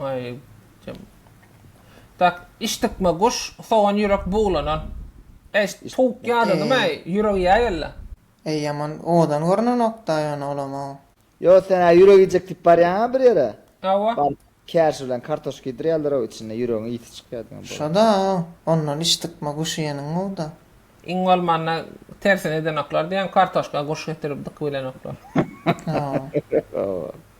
Ay, kim? Tak, iş tıkma guş, soğan yürek buğlanan. Eş, tavuk yadın mı? Yürek yay ella. Ey yaman owadan görünenok da ýöne olam-ow. Ýo sen a ýürek iýjek diýip barýaň-a bir ýere. Hawa. Baryp kärşi bilen kartoşka iýdirýärler-ow içinde ýüregiň ysy çykýar diýen bolar. Şo-da, ondan iş tykma guş iýeniň gowy-da. Iň bolmanda tersini edenoklar diýen kartoşka guş getirip dykybilenoklar. Hawa. Hawa.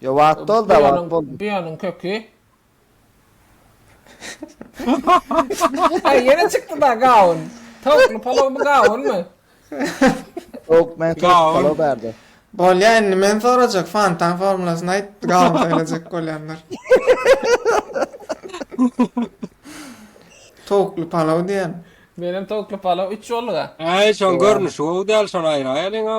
Yo wagt dol da wagt bol. Buýanyň köki. Aý ýene çykdy da gawun. Towukly palawmy gawunmy? Towuk men towuk palaw bärde. Bolýa indi men sorajak fantan formulasyny aýt gawun saýlajak bolýanlar. Towukly palaw diýen. Menem towukly palaw üç bolduga. Äý şoň görnüşi gowy däl şony aýraýalyňa.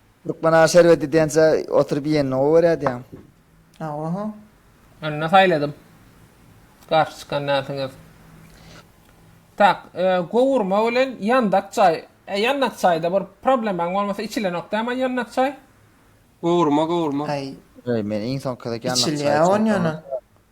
Lukman aga şerbet idýänçä oturyp iýenini gowy görýärdiýäň. Hawa-ha. Ynha saýladym. Garşy çykan näsiňiz? Tak, gowurma bilen ýandak çaý. E, ýandak çaýda bir problemaň bolmasa içilenok däm-a ýandak çaý? Gowurma, gowurma. Aý. Aý, men iň soňky gezek ýandak çaý içendim. Içilýä onýanam.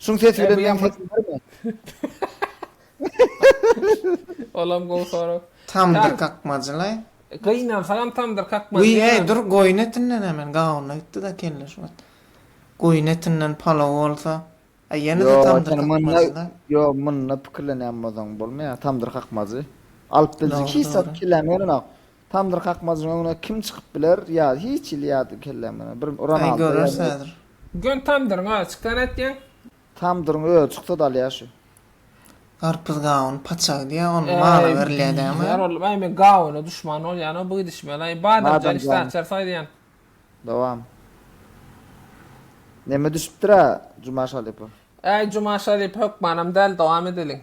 Şuň sesi bilen men ses bilermi? Olam gowy sorag. Tamdyr kakmajylaý. Gynansagam tamdyr kakmajy. Wiý heý dur goýun etinden hemen gawuna gitdida kelle şu wagt. Goýun etinden palaw bolsa. A ýenede tamdyr kakmajylaý. Ýo munda pikirlenýän bolsaň bolmaýa tamdyr kakmajy. Alyp biljik hiç zat kilämegin onam. Tamdyr kakmajyň öňüne kim çykyp biler ýa hiç il ýady kelläme bir Ronaldo ýa messi. Göni tamdyryň özi çyksa nätýäň. Tamdyryň özi çyksa dalýa şu. Garpyz gawun paçagy diýýä onuň mala berilýä dämi. Ýar ollum aý men gawuna duşman bolýanoo bu gidişmeli aý badamjan işdä açar saýlaýan. Dowam. Neme düşüpdira Juma Şalypow. Äý Juma Şalyp hökmanam däl dowam edeliň.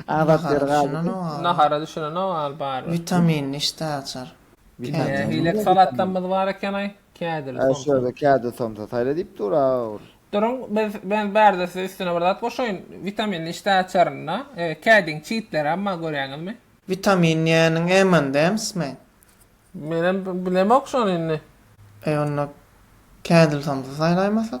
Abat ýeri galdy. Nahara düşünenok al bary. Witaminli işdä açar. Kädil. Beýleki salatlarymyz bar ekeni. Kädil, somsa. Şu ýerde kädil, somsa saýla diýip dur. Duruň, men bärde size üstüne bir zat goşaýyn. Witaminli işdä açarynda kädiň çitlerem bar görýäňizmi? Witamin diýýäniň M&M'smi? Menem bilemok şony indi. Eý onda kädil, somsa saýlaýmasak?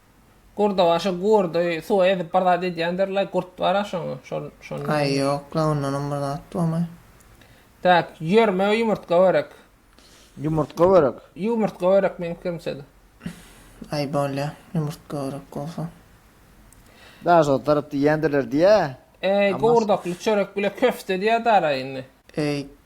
Gurda başy gurdy suwa ezip bir zat edýändir laý gurt bara şoň şol şondan. Aý ýok la ondanam bir zat bolmaý. Tak ýörme ýumurtga börek. Ýumurtga börek. Ýumurtga börek meň pikirimçede. Aý bolýa ýumurtga börek bolsa. Daş otaryp diýýändirler diýä. Eý gowurdakly çörek bile köfte diýýä dara indi. Eý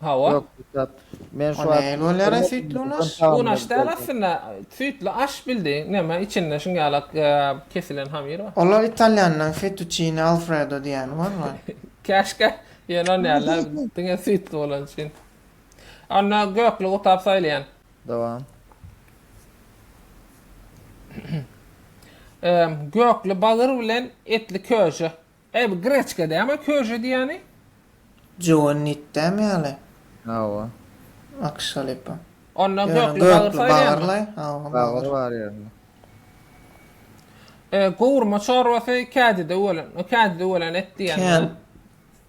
Hawa. Yok Kürtap. Men şu wagt un aş däl aslynda süýtli aş bildiň neme içinde şuňalak kesilen hamyr bar. Olar italýanlaň fetuçini alfredo diýýäni bar bar. Käşgä ýöne näle diňe süýtli bolany üçin. Onda gökli gutap saýlaýan. Dowam. Gökli bagyr bilen etli köje. Eý bu greçka dämi köşe diýýäni. Joe nit dämi ýaly. Hawa. Akşa lepa. Onda gökli bagyr saýylýamy. Hawa bagyr bar ýerinde. E gowurma çorbasy kädide ölen o kädide ölen et diýýäni ýa.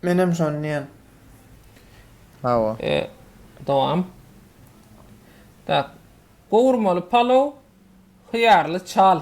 Menem şony diýýän. Hawa. E dowam. Tak. Gowurmaly palow hyýarly çal.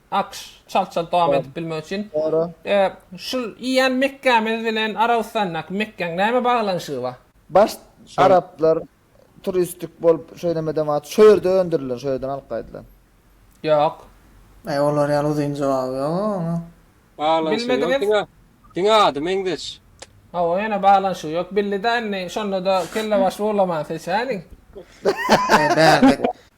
Akş, çalt-çalt dowam edip bilmek üçin. Dogry. E, şul iýen Mekgämiz bilen Arabystandaky Mekgäň näme baglanyşygy bar? Baş Şol. araplar turistik bolup şeýlemeden wagt şo ýerde öndürilen, şo ýerden alyp gaýdylan. Ýok. Aý olar ýaly uzyn jogaby ýog-a oňa. Baglanşygy ýok Bilmediňiz? diňe diňe ady meňzeş. Hawa ýene baglanşygy ýok bildi-dä indi şonda-da kellebaşly bolamaň seç häli. Bärdek.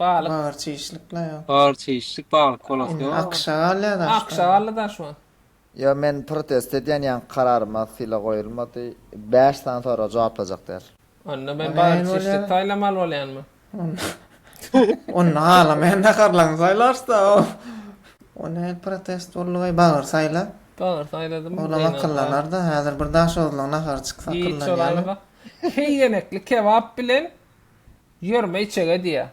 Balyk. Bagyr çişlik la ýa. Bagyr çişlik baglyk bolosy ýok. Akşagal ýa daşgala. Akşagally daşwan. Ýa men protest edýän ýaňky kararyma sylag goýulmady bäş sany soraga jogaplajak däl. Onda men bagyr çişlik saýlamaly bolýanmy. Onda halamaýan naharlaryňy saýlarsda o. O nähili protest boldy we bagyr saýla. Bagyr saýladym. Olam akyllanarda häzir bir daşoguzlyň nahary çyksa akyllanýamy. Heý ýenekli kebap bilen Ýörme içege diýýä.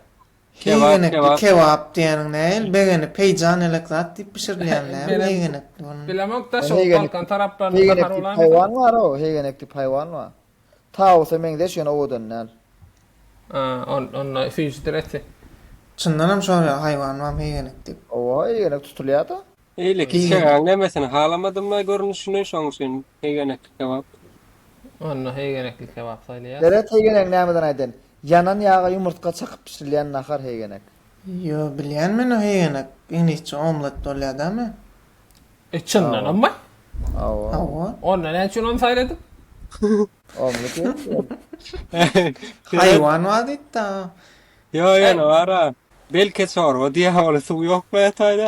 Heýgenekli kebap diýeniň nähili begeni peýjan elek zat diýip bişirilýän däl heýgenekli bunun. Bilemok da şo balkan taraplarynda nahar bolarmy. Heýgenekli haýwan bar o heýgenek diýip haýwan bar. Tawusa meňzeş ýöne owadan däl. Onda süýjüdir eti. Çyndanam şo ýaly haýwan barmy heýgenek diýip. Owa heýgenek tutulýada. Eýle ki Giňe- çagaň nemesini halamadym-la görnüşini, şoň üçin hegenekli kebap. Onda hegenekli kebap saýlaýas. Deret hegenek nämeden aýdan? Ýanan ýaga ýumurtga çakyp bişirilýän nahar hegenek. Ýo bilýän men o hegenek iňlisçe omlet bolýa dämi. E çyndanammy? Hawa. Hawa. Onda näme üçin ony saýladyň? Omlet ýok ki ýol. Haýwan bar diýipdi-a. Ýo ýöne bar-a. Belki çorba diýýär ol suw ýok bätaýda.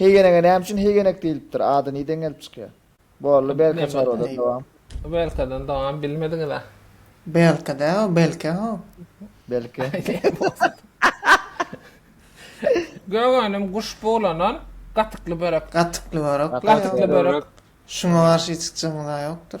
Heýgenege näme üçin heýgenek diýilipdir, ady niden gelip çykýar? Boldy belka çorbadan dowam. Belkadan dowam bilmediňizä. Belka däl o belke o. Belke. Gök önüm guş bulanan gatykly börek. Gatykly börek. Gatykly börek. Şuňa garşy hiç çykjagymyz-a ýokdur.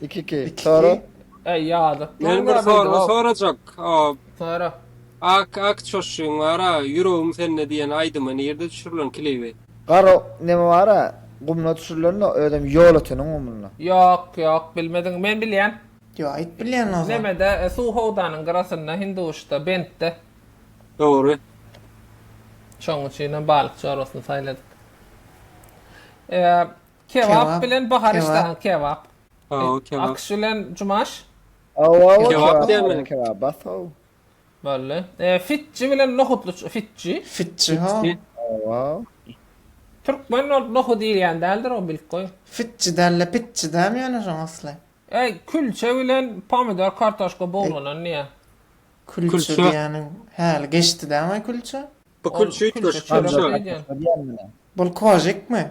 2 2. İki, Sara. iki. Ey ýazyk. Men bir Maňa bildi, soragy wow. sorajak. O Sara. Ak ak çoşuň wara, ýüregim sende diýen aýdymy nirde düşürilen klibi? Gara neme bara gumuna düşürilende özem ýol öteniň gumunda. Ýok, ýok, bilmediň. Men bilýän. Ýo, aýt bilýäniň o zaman. Nemede, e, suw howdanyň gyrasynda, Hinduşda, Bentde. Dogry. Şoň üçinem balykçy orasyny saýladyk. E, Kebap bilen bahar işte a kebap. Hawa kebap. Akyş bilen cumaş. Hawa hawa kebap diýmeli. Kebap bas haw. Belli. E, fitçi bilen nohutly fitçi. Fitçi ha. Hawa. Türkmen bolup nohut iýýän däldir o bilip goý. Fitçi dälle pitçi dämi ýöne şoň asly. E, külçe bilen pomidor kartoşka buglanan diýä. Külçe diýýäniň häli geçdi dämi külçe? Bu külçe üýtgeşik külçe. Bol kožikmi?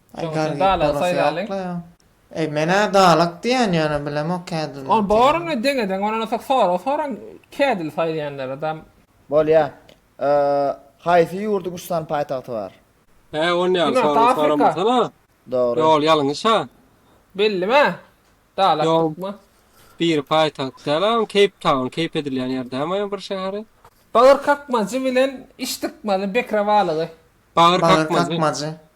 Şoň üçin dala saýlalyň. Eý menä dalak diýýän ýöne bilemok kädilmi. Ol baryny deň eden ondan ozak sorag soraň kädil saýlaýanlara dam. Bolýa. Haýsy ýurduň üç sany paýtagty bar? Hä on ýaly sorag soramasana. Dogry. Ýol ýalňyş ha. Bellimi? Dalak dykma. Biri paýtagt däl a keýp taun keýp edilýän ýer däl maýa bir şäheri. Bagyr kakmajy bilen iş dykmaly bekra balygy. Bagyr kakmajy.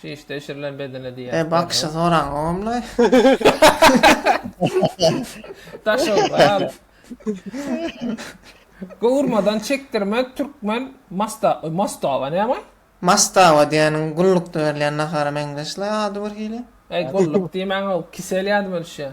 Çişde bişirilen bedene diýýär. E bakşy soraň ogumlaý. Daş ogly al. Gowurmadan çekdirmek türkmen masta mastaba näme? Mastaba diýeniň gullukda berilýän nahara meňzeşlaý ady birhili. Eý gulluk diýmäň-ow, kisel ýadyma düşýär.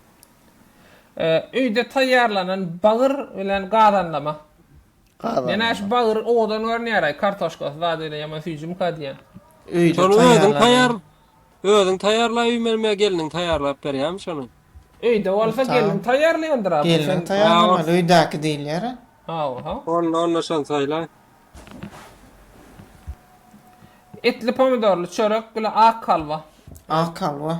Öýde taýýarlanan bagyr bilen gazanlama. Gazanlama. Ýene bagyr owadan görünýär-aý, kartoşkasy zat öýle ýaman süýjümka diýýän. Öýde taýýarlanan. Özüň taýýarlaýyp iýmelimi ýa gelniň taýýarlap berýärmi şony? Öýde bolsa gelniň taýýarlaýandyr-a. Gelniň taýýarlamaly, öýdäki diýilýär-ä. Hawa-ha. Onda şony saýlaý. Etli pomidorly çörek bilen ak halwa. Ak halwa.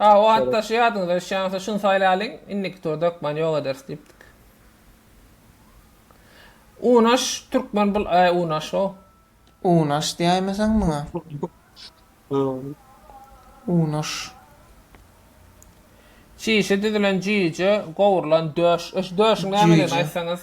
A o atdaşy ýadyňyza düşýän bolsa şuny saýlalyň, indiki turda hökman ýok ederis diýipdik. Unaş türkmen bul äý unaş how. Unaş diýäýmeseň muňa. Unaş. Çişi düzülen jüýje, gowrulan döş. Öş döşüň nämedigini aýtsaňyz.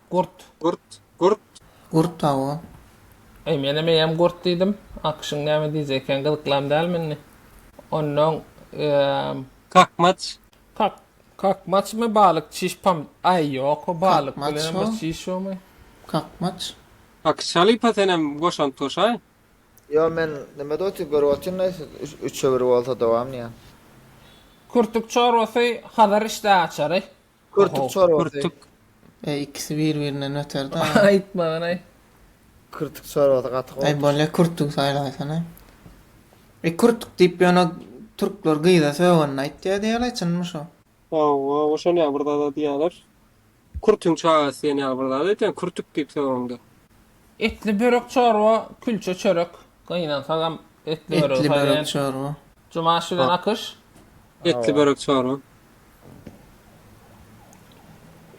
Gurt. Gurt. Gurt. Gurt tawa. Eý, menem eýýäm gurt diýdim. Akyşyň näme diýjek eken, gyzyklam dälmi indi? Onnoň, eee. Kakmaç. Kak, kakmaçmy, balyk, çiş, pam. Aý, ýok, o balyk bilenem bir çiş ýokmy? Kakmaç. Akyşa lypa senem goşant goşaý. Ýok, men nimede otyp görüp otyryn-da, siz üçe bir bolsa dowam diýýän. Kürtük çorbasy Hazar işdäaçary. Kürtük çorbasy. Kürtük. Eý ikisi bir birinden beterda. Aýtmaganaý. Kürtük çorbasy gaty gowy. Eý bolýa kürtügi saýlaýsana. Eý kürtük diýip ýöne türkler gyza sögende aýtýa diýýäler çynmy şo. Hawa oşan ýaly bir zada diýýäler. Kürtüň çagasy diýen ýaly bir zat aýtýan kürtük diýip sögende. Etli börek çorba külçe çörek gynansagam etli böregi Etli börek saýlaýan çorba. Jumaş bilen Akyş. Etli börek çorba.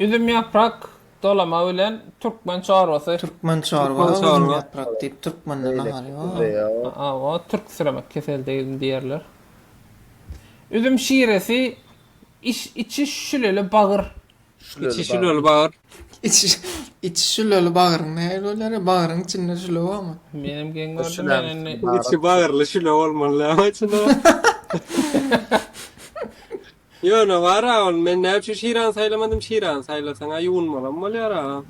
Üzüm ýaprak dolama bilen türkmen çorbasy. Türkmen çorba Türkmen üzüm çorba. ýaprak diýip türkmende nahar ýok. Hawa türk siremek kesel degil diýerler. Üzüm şiresi iş içi şüleli bagyr. Şüleli Içi şüleli bagyr. Içi, içi şüleli bagyryň nähili bolýar? ya? Bagyryň içinde şüle barmy? Menem geň gördüm Şüläň men indi. içinde Içi bagyrly şüle bolmaly ama içinde. Ýöne bar-a ol, men näme üçin şirany saýlamadym, şirany saýlasaň-a ýuwunmalam bolýar-a.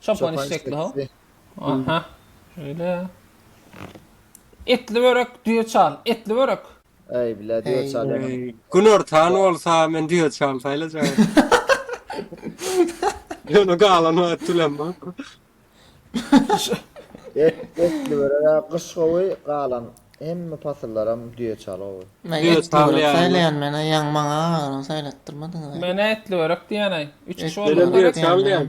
Çopan işekli ho. Aha. Şöyle. Etli börek düye çal. Etli börek. Ey bile düye çal. Gün ortan olsa men düye çal sayla çal. Yonu galan var tülem var. Et, etli börek kış kovi galan. Hem mi pasıllaram düye çal ovi. Ne etli börek saylayan mena yan mana ağırın saylattırmadın. Mena etli börek diyen ay. Üç kişi oldu. Düye çal diyen.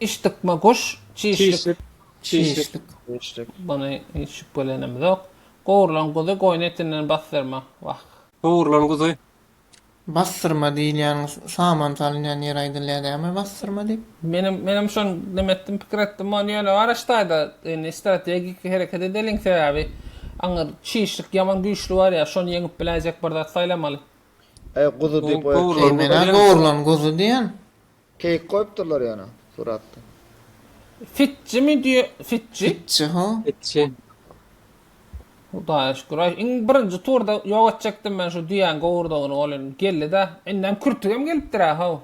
Iş dykma guş, çişlik, çişlik. Bony hiç şübhelenimizok. Gowrulan guzy goýun etinden basdyrma. Wah. Gowrulan guzy. Basdyrma diýilýän saman salynýan ýeri aýdylýar dämi basdyrma diýip? Menem menem şony neme etdim pikir etdim ony ýöne Waraş daýda indi strategik hereket edeliň sebäbi aňyr çişlik ýaman güýçli bar ýa şony ýeňip biläýjek bir zat saýlamaly. Eý guzy diýip goýa keý menä gowrulan guzy diýen. Keýik goýupdyrlar ýöne suratda. Fitji mi diýe fitji. Fitji ho. Fitji. Hudaýa şükür aý iň birinji turda ýok etjekdim men şu düýäň gowurdagyny ol indi geldidä indem kürtügem gelipdirä how.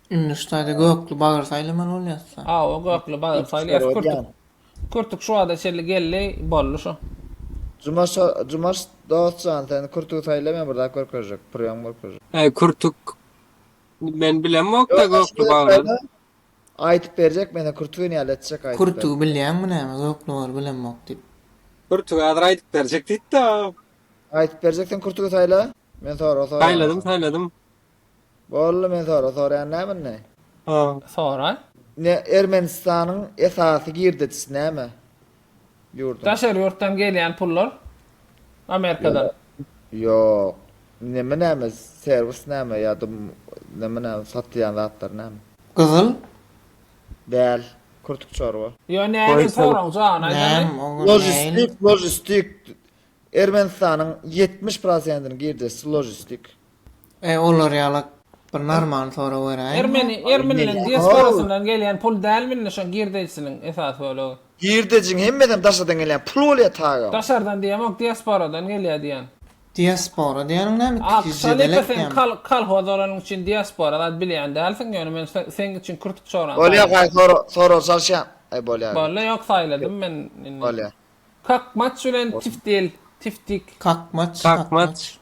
Indi şu taýda gökli bagyr saýlamaly bolýasda. Hawa gökli bagyr saýlaýas kürtük. Kürtük şu wagta çenli geldi boldy şu. Jumaş Jumaş dost jan sen kürtügi saýla men bir zat görkezjek prýom görkezjek. Eý kürtük men bilemokda gökli baglan. Aýtyp berjek mena kürtügi näle etjek aýtyp. Kürtügi bilýäňmi näme gökli bagy bilemok diýip. Kürtügi hazir aýdyp berjek diýipdi o. Aýdyp berjek sen kürtügi saýla men sorag soraýan. Saýladym saýladym. Boldy men sora soraýan näme indi. Haa sora. Ne Ermenistanyň esasy girdejisi näme ýurduň. Daşary ýurtdan gelýän pullar Amerikadan. Ýok. Neme näme serwis näme ýa-da neme näme satýan zatlar näme. Gyzyl. Däl. Kurtuk çorba. Ýo näme soraň jogabyny aýdaly. Logistik logistik Ermenistanyň ýetmiş prosentini girdejisi ložistik. Eý olar ýaly bir normalny sorag beräýiňda. Ermeni bilen diasporasyndan gelýän pul dälmi indi şo girdejisiniň esas bölegi. Girdejiň hemmesem daşardan gelýän pul bolýa tagam. Daşardan diýemok diasporadan gelýä diýän. Diaspora diýäniň näme iki ýüz jedel etýämi. Altyş halypa sen kolhoz bolanyň üçin diaspora zat bilýän dälsiň ýöne men seň üçin kürtük çoran saýladym. Bolýa gaý sorag salşýan. Bolýa. Bolýa ýok saýladym men indi. Bolýa. Kakmaç bilen tiftil, tiftik. Kakmaç, Kakmaç. kakmaç.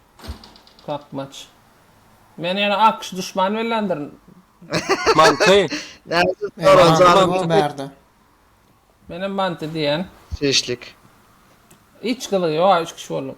Kakmaç. Meni ýene AQŞ duşmany bellendirin. Manty. Nädip Eee, soraň manty janym. bar bärde. Men hem manty diýýän. Şeşlik. Hiç gyzygy ýok-a üç kişi bolduk.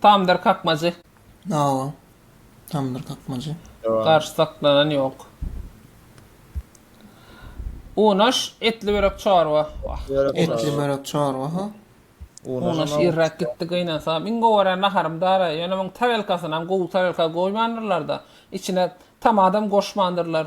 Tamdyr kakmajy. Hawa. Tamdyr kakmajy. Garşy saklanan ýok. Unaş etli börek çorba. Etli börek çorba ha. Unaş irräk gitdi gynansa. Iň gowy gören naharym dara. Ýöne muň tarelkasynam gowy tarelka goýmandyrlar-da. Içine tomatam goşmandyrlar.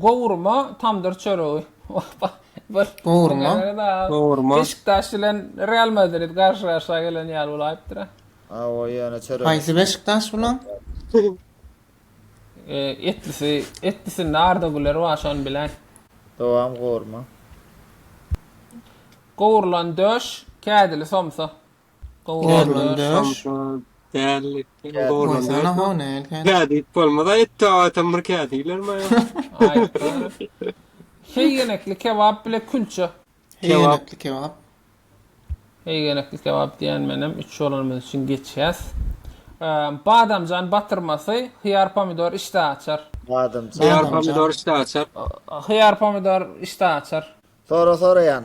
Gowurma tamdyr çöregi. Gowurma, gowurma. Beşiktaş bilen Real Madrid garşy-garşa gelen ýaly bolaýypdyr-a. Awa ýöne çörek. Haýsy Beşiktaş bulan? Etlisi, etlisinde Arda Güler bar şony biläý. Dowam gowurma. Gowurlan döş, kädili somsa. Gorlandaş. Dällik. Gorlandaş. Nädip bolmaz aýtdy adam bir kädiler maýa. Heýgenekli kebap bile külçe. Heýgenekli kebap. Heýgenekli kebap diýen menem üç bolanymyz üçin geçýäs. Badamjan batyrmasy, hyýar pomidor işdä açar. Badamjan. Hyýar pomidor işdä açar. Hyýar pomidor işdä açar. Sora soraýan.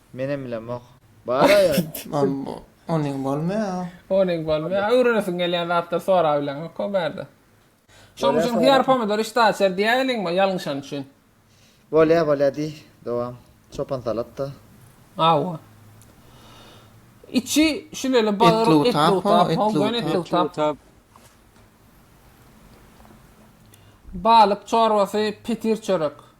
Menem bilemok. Bara ýa. Onyň bolmaýa. Onyň bolmaýa. Öwrenesiň gelýän zatlar sorap bileňok o bärde. Şoň üçin hyýar pomidor işdä açar diýýä welin ýalňyşan üçin. Bolýa bolýa diý. Dowam. Çopan salat da. Hawa. Içi şüleli bagyr etlutap ho gön etlutap. Balyk çorbasy petir çörek.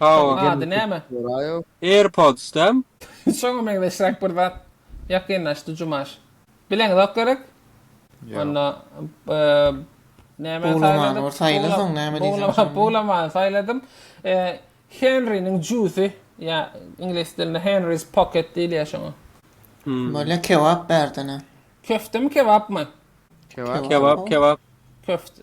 Şoň Power. ady näme? Soraýow. Airpods däm? Şoňa meňzeşräk bir zat ýakynlaşdy Jumaş. Bileňzok gerek? Ýok. Onda nämäni Buwlamany bir saýladyk? saýla soň näme diýseň Buwlama, şony. buwlamany saýladym. Henriniň jusy, ýa iňlis dilinde Henry's pocket diýilýär şoňa. Bolýa kebap bärdene. Köftemi kebapmy? Kebap. Kebap, kebap. Köfte.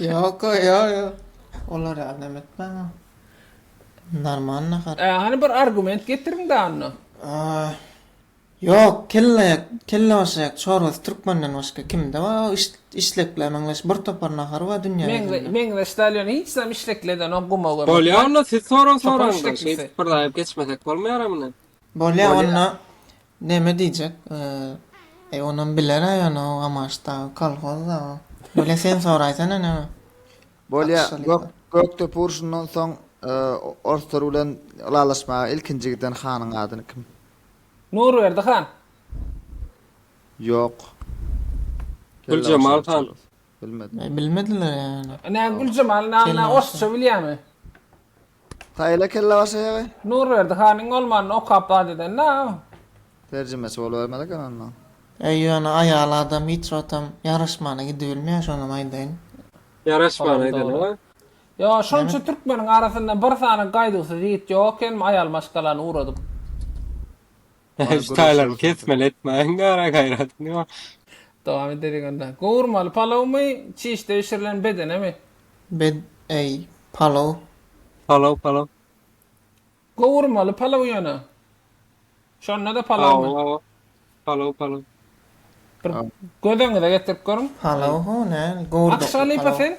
Yok o yo yo. Olar ya ne etmem. Normal nahar. Ee, hani bir argument getirin da anna. Aa, Yok kelle kelle başak çorbasy Türkmenden başka kimde var? O iş, işlekler meňleş bir topar nahar var dünya Meňle, yüzünde. meňle stalyon hiç zam işlekleden o guma görmek. Bolýar onda siz soran Çopan sorandan. işlekçisi. Biz birdaýyp geçmesek bolmaýar amyna. Bolýa onda neme diýjek eý onam bilerä ýöne o gamaşdagy kolhozda o bolýa sen soraýsana neme Bolýa Gökdepe urşundan soň orslar bilen ylalaşmaga ilkinji giden hanyň adyny kim? Nurberdi han. Ýok. Güljemal han. Bilmedim. Bilmediler ýa ýöne. Ine Güljemal nanna orsça bilýämi? Haýyla kelle başa ýagy. Nurberdi hanyň bolmanyny okap zat edendä. Terjimeçi bolubermez eken onda. Eý ýöne aýal adam hiç wagtam ýaraşmana gidibilmeýär şonam aýdaýyn. Ýaraşman aýdanyňa. Ýo şonça türkmeniň arasynda bir sany gaýduwsyz ýigit ýok ekenmi aýal maşgalany ugradyp. Bar Şu taýlaryny göreşýär şonda. kesmeli etmäň gara gaýratyny ýok. Dowam ederik onda. Gowurmaly palawmy, çişde bişirilen bedenemi? Bed eý, palaw. Palaw palaw. Gowurmaly palaw ýöne. Şonda-da palawmy? Hawa hawa. Palaw palaw. Bir göz öňüňize getirip görüň. Palaw ho näl? Gowurdakly Akşa lypa palaw. sen?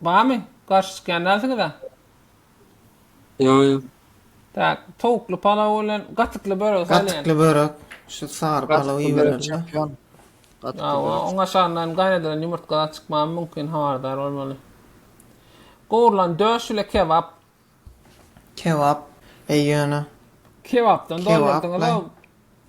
Barmy? Garşy çykýan dälsiňiz-ä? Ýok, ýok. Tak, towukly palaw bilen gatykly börek saýlaýyn. Gatykly börek, şu sary palaw iberelim-le. Hawa, oň aşagyndan hem gaýnadylan ýumurtga zat çykmagy mümkin, habardar bolmaly. Gowrulan döş ile kebap. Kebap, eý ýöne. Kebapdan doldurdyňyz-ow.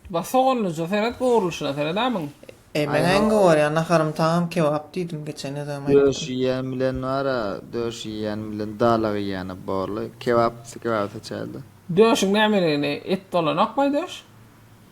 Bax soganlyja seret gowrulyşyna seret a muň. Eý men äň gowarýan naharymy taňam kebap diýdim geçen özem aýtdym. Döş iýýän bilen bar-a döş iýýän bilen dalak iýýäne borly kebap kebaby seçäýeli. Döşüň nämeligini et dolanokmaý döş.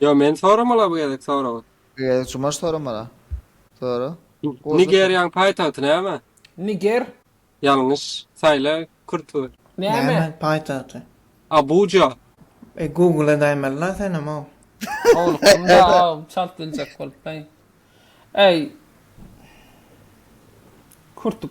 Ýo men soramala bu gezek soragy. Bu gezek Jumaş soramala. Sora. Nigeriýaň paýtagty näme? Niger. Ýalňyş. Saýla kürt we. Näme? Paýtagty. Abuja. E google edäýmelila senem-ow. Howlukdym da çalt biljek bolup bäý. Äý. Kürtük.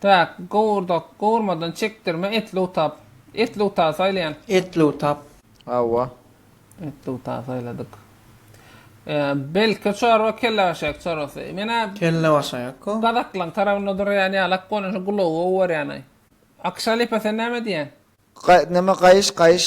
Täk, gowurdak, gowurmadan çekdirme, etli utap. Etli uta saýlaýan. Etli utap. Hawa. Etli uta saýladyk. Belki çorba kellebaşaýak çorbasy. Men-ä. Kellebaşaýak-a. Gazaklaň tarabynda durýan ýalak bolan şu gulagy gowy görýän-aý. Akşa lepe sen näme diýýäň? Ga, näme gaýyş, gaýyş.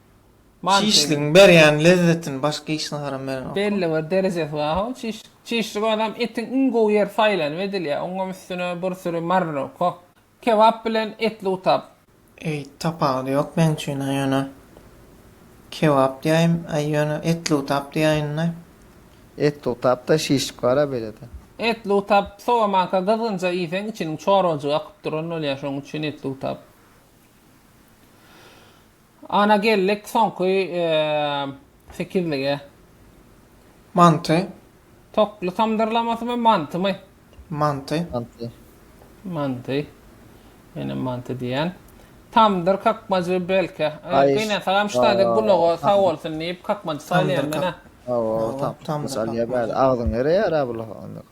Çişligiň berýän lezzetini başga hiç naharam berenok. Belli bir derejesi bar how çiş. Çişlik adam etiň iň gowy ýeri saýlanyp edilýär. Oňam üstüne bir süri marinowka how. Kebap bilen etli utap. Eý tapawudy ýok meň üçin a ýöne kebap diýäýim a ýöne etli utap diýäýinda. Etli utap da şişlik bara belede. Etli utap sowamanka gyzgynja iýseň içiniň çorbajygy akyp duran bolýar şoň üçin etli utap. Ana geldik soňky sekizlige. Manty. Tokly tamdyrlamasy-my, mantymy? Manty. Manty. Manty. Menem manty diýýän. Tamdyr kakmajy belki. Gynansagam ştaýda gulaga sag bolsun diýip kakmajy salýan men-ä. Hawa, tamdyr salýar bäri. Agzyň ereýär-ä bu lahagynyň.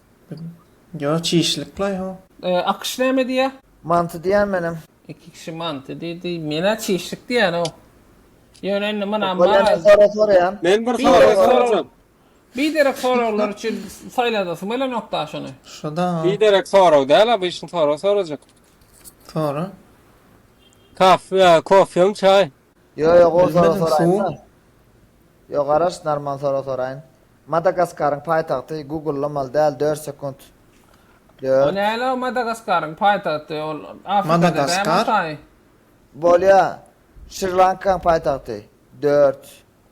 Yo çişlik la yo. Akyş näme diýýä? Manty diýýän menem. Iki kişi manty diýdi. Menä çişlik diýýänow. Ýöne indi muna maraz. Men bir sorag sorajak. Biderek soraglar üçin saýlasyň gelenok da şony. Şoda. Biderek sorag däl obyçny sorag sorajak. Sora. Kaffe, kofem, çaý. Ýo ýok ol sora soraýynda. Ýo garaş narman sora soraýyn. Madagaskaryň paýtagty gugullamaly däl dört sekunt. O näle o Madagaskaryň paýtagty ol Afrikada dämi Ataý. Bolýa Şrilankaň paýtagty dört.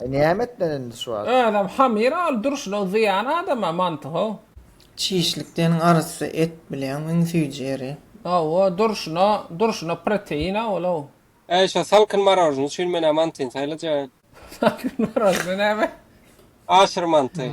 E näme etmeli indi şu wagt. Özem hamyr ol durşuna zyýan adama mantyhow. Çişlik seniň arassa et bileň iň süýji ýeri. Hawa durşuna durşuna protein a ol ow. Äý şo salkyn marožny üçin menä mantyn saýlajaýyn. Salkyn marožny näme? Aşyr manty.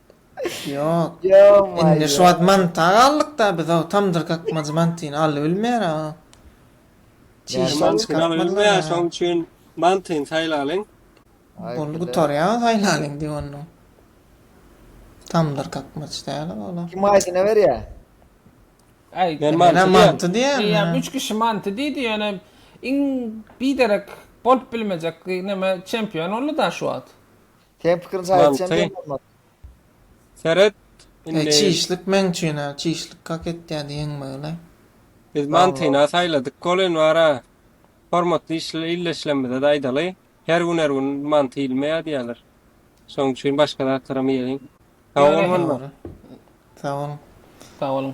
Ýok. Indi şu wagt manta galdyk-da biz o tamdyr kakmajy mantyny alyp bilmeýär-ä o. Çişini çykartmadylar-a. Şoň üçin mantyny saýlalyň. Ol gutarýar saýlalyň diýip onda. Tamdyr kakmaç däl-ä olar. Kim aýdyna berýär? Aýtdy. Menä manty diýýän. Eýýäm üç kişi manty diýdi ýöne iň biderek bolup bilmejek neme çempion boldy-da şu wagt. Seň pikiriňçe aýytjam Manty. diýen Seret Eý indi çişlik meň üçin a çişlik kak etýä diýeň böle. Biz mantyny-a saýladyk bolyn bara. Hormatly işle illeşlemizede aýdaly, her gün her gün manty iýilmeýä diýýäler. Şoň üçin başga zatlaram iýeliň. Sag bol Ýöne. Manma. Dogry. Sag boluň. Sag boluň.